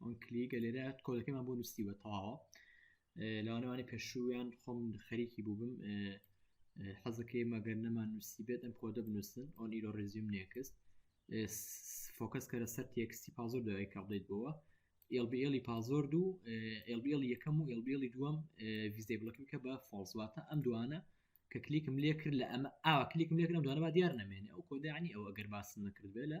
ئەم کلیگە لێرە کۆدەکەمان بۆ نووسی بە تەواوە لاوانەوانی پێشوویان خۆم خەریکی بوو بم حەزەکەی مەگەر نەمان نووسی بێت ئەم کۆدە بنووسن ئۆن ئیرۆ ڕێزیوم نێکست فۆکەس کە لە سەر تێکستی پازۆر داوای کە بڵیت بەوە ئێلبیلی پازۆر دوو ئێلبیل یەکەم و ئێلبیلی دووەم ویزدەی بڵکی بکە بە فۆڵزواتە ئەم دوانە کە کلیکم لێ کرد لە ئەمە ئاوا کلیکم لێکردم دوانەبا دیار نامێنێ ئەو کۆدانی ئەو ئەگەر باسن نەکرد بێ لە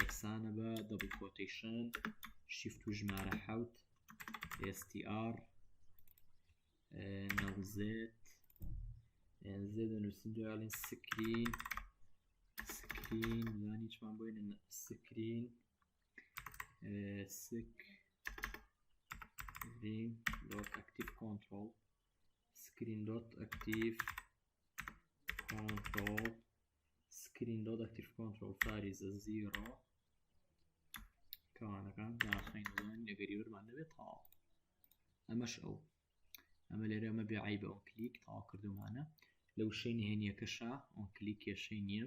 یەکسانە بە دەبڵ کۆتەیشن شیفت و ژمارە حوت str نەوزێت زێ دەنووسین دوالین سکرین سکرین یان هیچمان بۆی سکرین سک سکرین دۆت ئەکتیف کۆنتترۆل سکرین دۆت ئەکتیف کۆنتترۆل سکرین دۆت ئەکتیف کۆنترۆڵ فاریزە زیرۆ کەوانەکان داخینەوەن نەگەری وەرمان دەبێت تاڵ ئەمەش ئەو ئەمە لێرە ئەمە بێعی بە ئەو کلیک تاواکردومانە لە وشەی نهێنیەکەشا ئەو کلیک کێشەی نییە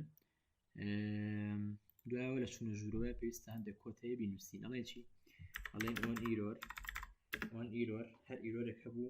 دوایەوە لە چونە ژوورەوەی پێویستە هەندێک کۆتەیە بینوسین ئەڵێ چی ئەڵێن ئۆن ئیرۆر ئۆن ئیرۆر هەر ئیرۆرێک هەبوو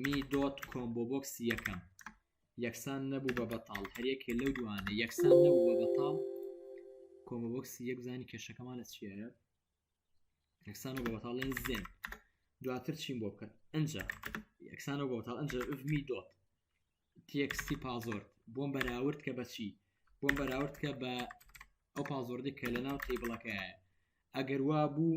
می دۆت کۆمبۆ بۆکسی یەکەم یەکسان نەبوو بە بەتاڵ هەریەکێ لەو دوانە یەکسان نەبوو بە بەتاڵ کۆمبۆ بۆکسی یەک زانی کێشەکەمان لە چیایە یەکسان و بە بەتاڵێن زێن دواتر چین بۆ بکەن ئەجا یەکسان و بە بەتاڵ ئەجا می دۆت تێکستی پازۆرت بۆم بەراورد کە بەچی بۆم بەراورد کە بە ئەو پازۆردی کە لە ناو تیبڵەکەیە ئەگەر وا بوو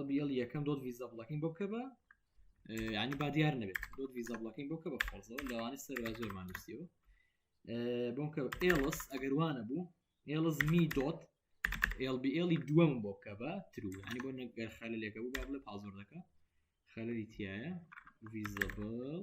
LBL یەکەم دۆت ویزا بڵەکین بۆ بکە بە ینی با دیار نەبێت دۆت ویزا بڵەکین بۆ کە بە فۆزەوە لەوانی سەر زۆرمان نووسیەوە بۆم کە ئێڵس ئەگەروانە بوو ئێڵس می دۆت LBLی دووەم بۆ بکە بە ترو ینی بۆ نەگەر خەلە لێکە بوو با بڵێ پازۆر دەکە خەلەری تایە ویزەبڵ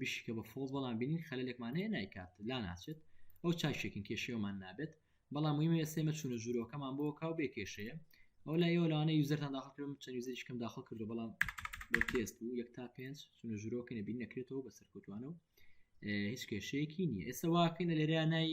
بشیکە بە فۆڵ بەڵام بینین خەلێکمان هەیە نایکات لا ناچێت ئەو چاکێکن کێشێومان نابێت بەڵام مهمە ئێسێمە چونە ژورۆکەمان بۆ کاو بێ کێشەیە ئەو لا ئێوە لەوانە یوزەرتان داخل کردم چەند یوزەریشکم داخل کردو بەڵام بۆ تێست بوو یەک تا پێنج چونە ژورۆکە نەبین نەکرێتەوە بە سەرکوتوانە و هیچ کێشەیەکی نییە ئێستا واکەینە لێرە نای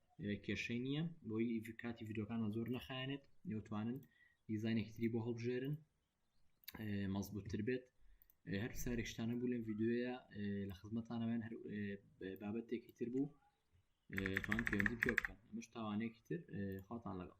کێشەی نییە بۆی کاتی یددیوکانە زۆر نەخایەنێت نێوتوانن دیزانێکی تری بۆ هەڵبژێرن مەزبووتتر بێت هەر سارێکشتانە بوو لەم یددیوەیە لە خزمەتانەوەیان هەر بابەتێکی تر بوو توان پەیوەندی پێ بکەن ئەمەش تاوانێکی تر خاڵتان لەگەڵ